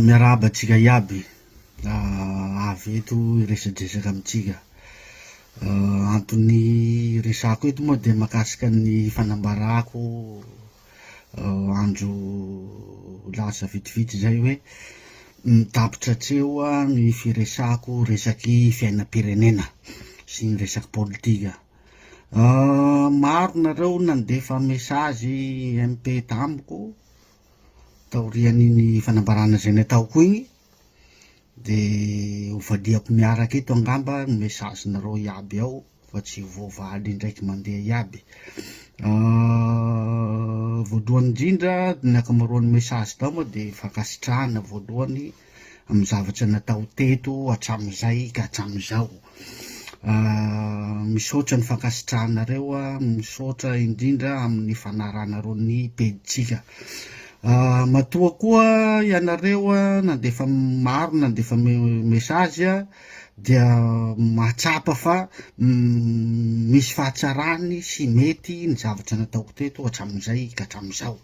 Miarahaba antsika iaby avy eto hiresadresaka amintsika. Anton'ny resahako eto moa dia mahakasika ny fanambarako andro lasa vitsivitsy izay hoe ny tapitra tsy eo ny firesahako resaky fiainam-pirenena sy ny resaky politika. Maro nareo nandefa mesazy MP tamiko. Taorian'iny fanambarana izay nataoko iny dia hovaliako miaraka eto angamba ny message-nareo iaby ao fa tsy ho voavaly indraiky mandeha iaby. Voalohany indrindra, ny ankamaroan'ny message-nao moa dia fankasitrahana voalohany amin'ny zavatra natao teto hatramin'izay ka hatramin'izao. Misaotra ny fankasitrahanareo a, misaotra indrindra amin'ny fanarahanareo ny pejintsika. Matoa koa ianareo a, nandefa maro nandefa message a, dia mahatsapa fa misy fahatsarany sy mety ny zavatra nataoko teto hatramin'izay ka hatramin'izao.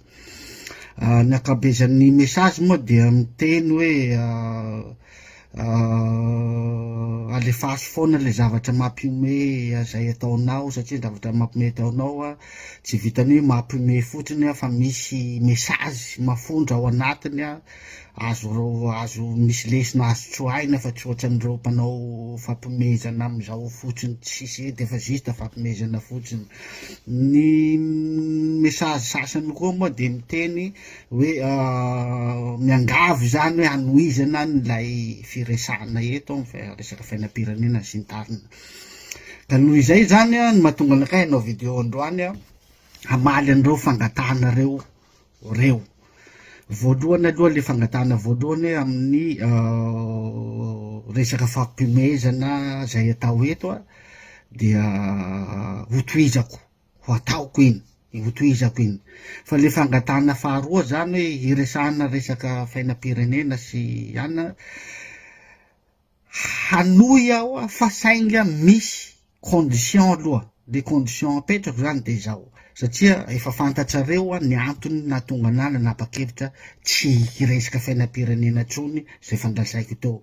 Ny ankabezan'ny message moa dia miteny hoe alefaso foana le zavatra mampihomehy zay ataonao satria zavatra mampihomehy ataonao a, tsy vitan'ny hoe mampihomehy fotsiny fa misy message mafondra ao anatiny a, Azo azo misy lesona azo tsoahina fa tsy ohatran'ireo mpanao fampomezana amin'izao fotsiny tsy sisy hety efa juste fampomezana fotsiny. Ny message sasany koa moa dia miteny hoe miangavy izany hoe hanohizana an'ilay firesahana eto fa resaka fiainam-pirenena sy ny tariny. Ka noho izay izany no mahatonga anakay hanao video androany hamaly an'ireo fangatahana ireo reo. Voalohany aloha le fangatahana voalohany hoe amin'ny resaka fampihomehezana zay atao eto a dia hotohizako ho ataoko iny hotohizako iny fa le fangatahana faharoa zany hoe hiresahana resaka fainam-pirenena sy anona hanohy aho fa sainga misy condition aloha, ny condition apetrako zany de zao, satria efa fantatrareo ny antony nahatonga anah nanapa-kevitra tsy hiresaka fiainam-pirenena intsony zay fandrasaiko teo,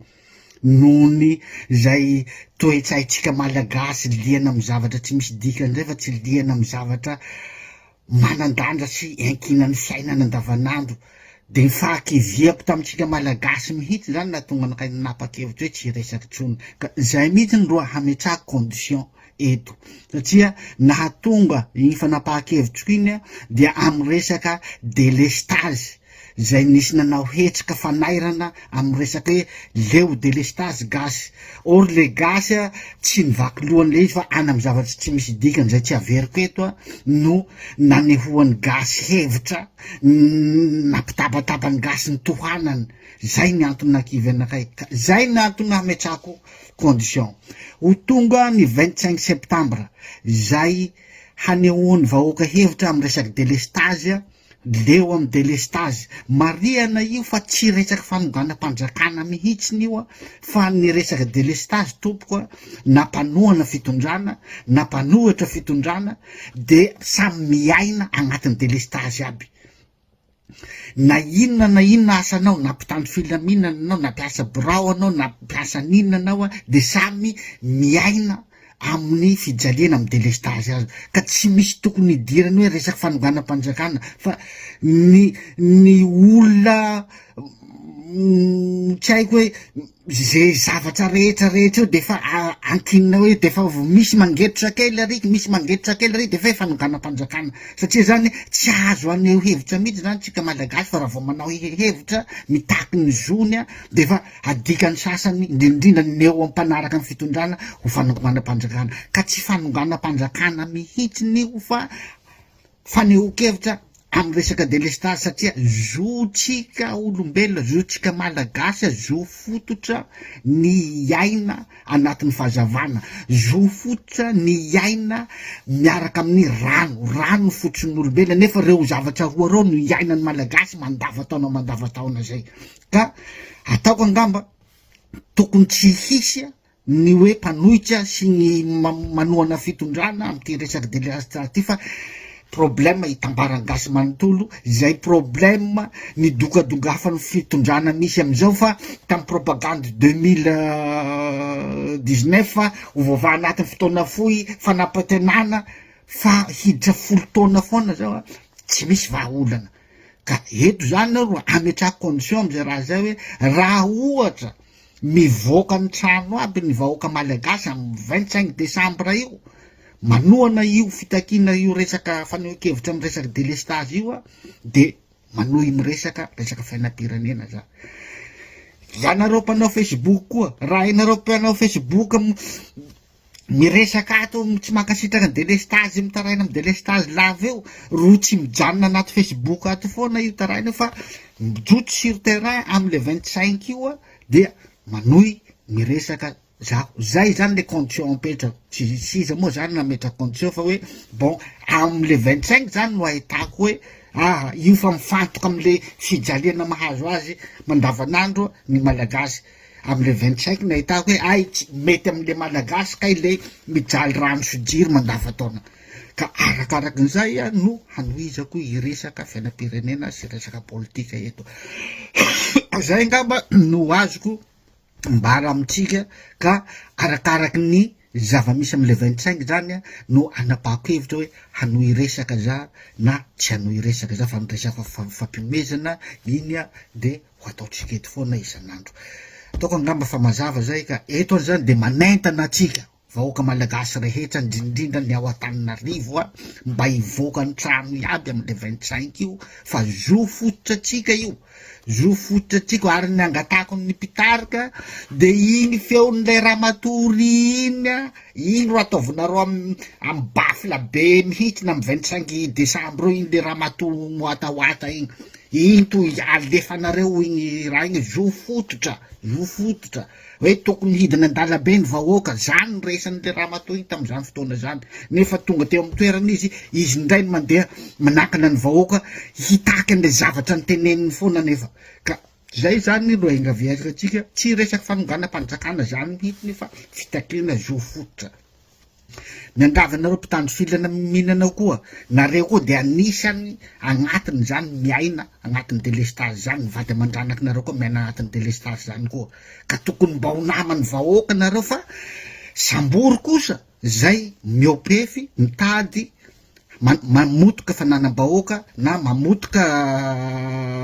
noho ny zay toe-tsaintsika malagasy liana amin'ny zavatra tsy misy dikany zay fa tsy liana amin'ny zavatra manan-danja sy iankinan'ny fiainana andavanandro, dia ny fahakiviako tamintsika Malagasy mihitsy izany nahatonga anakay nanapa-kevitra hoe tsy hiresaka intsony, ka izay mihitsy no raha hametrahako condition eto, satria nahatonga iny fanapahan-kevitriko iny aho dia amin'ny resaka délestage. izay nisy nanao hetsika fanairana amin'ny resaka hoe leo delestazy gasy or le gasy a tsy mivaky lohany le izy fa any amin'ny zavatsy tsy misy dikany izay tsy averiko eto a no nanehoan'ny gasy hevitra nampitabataba ny gasy ny tohanany zay ny antony nakivy anakay ka zay ny antony nametrako condition ho tonga ny vingt cinq septembre zay hanehoan'ny vahoaka hevitra amin'ny resaka delestazy a Leo am delestazy. Marihana io fa tsy resaky fanonganam-panjakana mihitsiny io a, fa ny resaka delestazy tompoko a, na mpanohana fitondrana, na mpanohitra fitondrana de samy miaina agnatin'ny delestazy aby. Na inona na inona asanao, na mpitandro filaminana anao, na mpiasa birao anao, na mpiasa n'inona anao a, de samy miaina amin'ny fijaliana amin'ny delestazy aza ka tsy misy tokony hidirany hoe resaky fanonganam-panjakana fa ny ny olona tsy haiko hoe ze zavatra rehetra rehetra eo defa ankinina hoe defa misy mangetrotra kely ary misy mangetrotra kely ary defa hoe fanonganam-panjakana satria zany tsy azo aneho hevitra mihitsy zany tsika malagasy fa raha vao manao hehevitra mitaky ny zony a defa Adikan'ny sasany, indrindrindra ny eo am-panaraka ny fitondrana, ho fanonganam-panjakana, ka tsy fanonganam-panjakana mihitsiny io fa fanehoan-kevitra amin'ny resaka delestazy satria zontsika olombelona, zontsika Malagasy, zo fototra ny hiaina anatin'ny fahazavana, zo fototra ny hiaina miaraka amin'ny rano, rano ny fototrin'olombelona nefa ireo zavatra roa ireo no iainan'ny Malagasy mandavantaona mandavantaona izay. Ka ataoko angamba tokony tsy hisy ny hoe mpanohitra sy ny manohana fitondrana amin'ity resaka deleastra ity fa problème hitambaran'ny gasy manontolo izay problème nidongadongafan'ny fitondrana misy amin'izao fa tamin'ny propagande deux mille dix neuf hovavaha anatin'ny fotoana fohy fanapatenana fa hiditra folo taona foana zao a tsy misy vahaolana Ka eto izany aho no hametrahako condition amin'izay raha izay hoe raha ohatra mivoaka ny trano aby ny vahoaka malagasy amin'ny vingt cinq décembre io, manohana io fitakiana io resaka fanehoan-kevitra amin'ny resaka délestage io aho dia manohy miresaka resaka fiainam-pirenena za. Ianareo mpanao facebook koa, raha ianareo mpanao facebook Miresaka ato tsy mankasitraka delestazy mitaraina am delestazy lava eo ro tsy mijanona anaty facebook ato foana io taraina io fa mijoto sur terrain am le vingt cinq io a dia manohy miresaka zaho zay zany le condition apetrako tsy tsy iza moa zany nametraka condition fa hoe bon am le vingt cinq zany no ahitako hoe aha io fa mifantoka am le fijaliana mahazo azy mandavanandro ny malagasy Am le vingt cinq nahitako hoe hay tsy mety am le Malagasy kay le mijaly rano sy jiro mandava taona ka arakaraky nizay a no hanohizako i resaka fiainam-pirenena sy resaka politika eto. Zay ngamba no azoko ambara amintsika ka arakaraky ny zava-misy am le vingt cinq zany a no anapahako hevitra hoe hanohy resaka za na tsy hanohy resaka za fa ny resaka fa- fampihomezana iny a de ho ataontsika eto foana isan'andro. Ataoko angamba fa mazava zay ka eto an' zany dia manentana antsika vahoaka malagasy rehetra indrindrindra ny ao Antananarivo a, mba hivoaka an-trano iaby amin'ny le vingt cinq io fa zo fototra antsika io, zo fototra antsika io, ary ny angatahako ny mpitarika dia iny feon'ilay ramatoa Ry iny a. Iny ro ataovinareo am am baffle be mihitsy na am vingt cinq decembre eo iny le ramatoa moatawata iny, iny to alefanareo iny raha iny hoe zo fototra, zo fototra, hoe tokony hidina an-dalabe ny vahoaka, zany no resanin'le ramatoa iny tamin'izany fotoana zany, nefa tonga teo am toerana izy, izy indray no mandeha manakana ny vahoaka hitaky an'le zavatra noteneniny foana nefa ka. Izay izany no iangaviarintsika, tsy resaka fanonganam-panjakana izany mihitsy fa fitakiana zo fototra. Miangavy anareo mpitandro filana mihinana ao koa, nareo koa dia anisany agnatiny izany miaina agnatiny delestazy izany, ny vady aman-dranaka nareo koa miaina agnatiny delestazy izany koa, ka tokony mba ho naman'ny vahoaka nareo fa sambory kosa izay miopefy mitady mamotoka fananam-bahoaka na mamotoka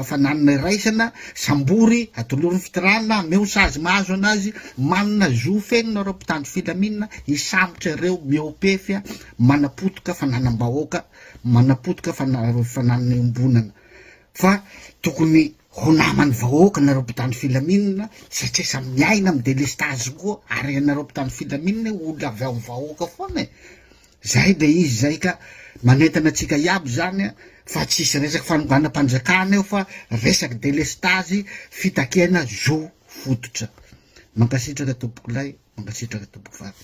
fananana iraisana, sambory, atolory ny fitirana, ameo sazy mahazo anazy, manana zo feno nareo mpitandro filaminana hisambotra ireo mihoa-pefy manapotoka fananam-bahoaka, manapotoka fananana iombonana. Fa tokony ho naman'ny vahoaka nareo mpitandro filaminana satria samy miaina amin'ny delestazy koa ary ianareo mpitandro filaminana olona avy ao amin'ny vahoaka foana e! Zay de izy zay ka manentana antsika iaby izany a fa tsisy resaky fanonganam-panjakana eo fa resaky delestazy fitakiana zo fototra. Mankasitraka tompoko lahy, mankasitraka tompoko vavy.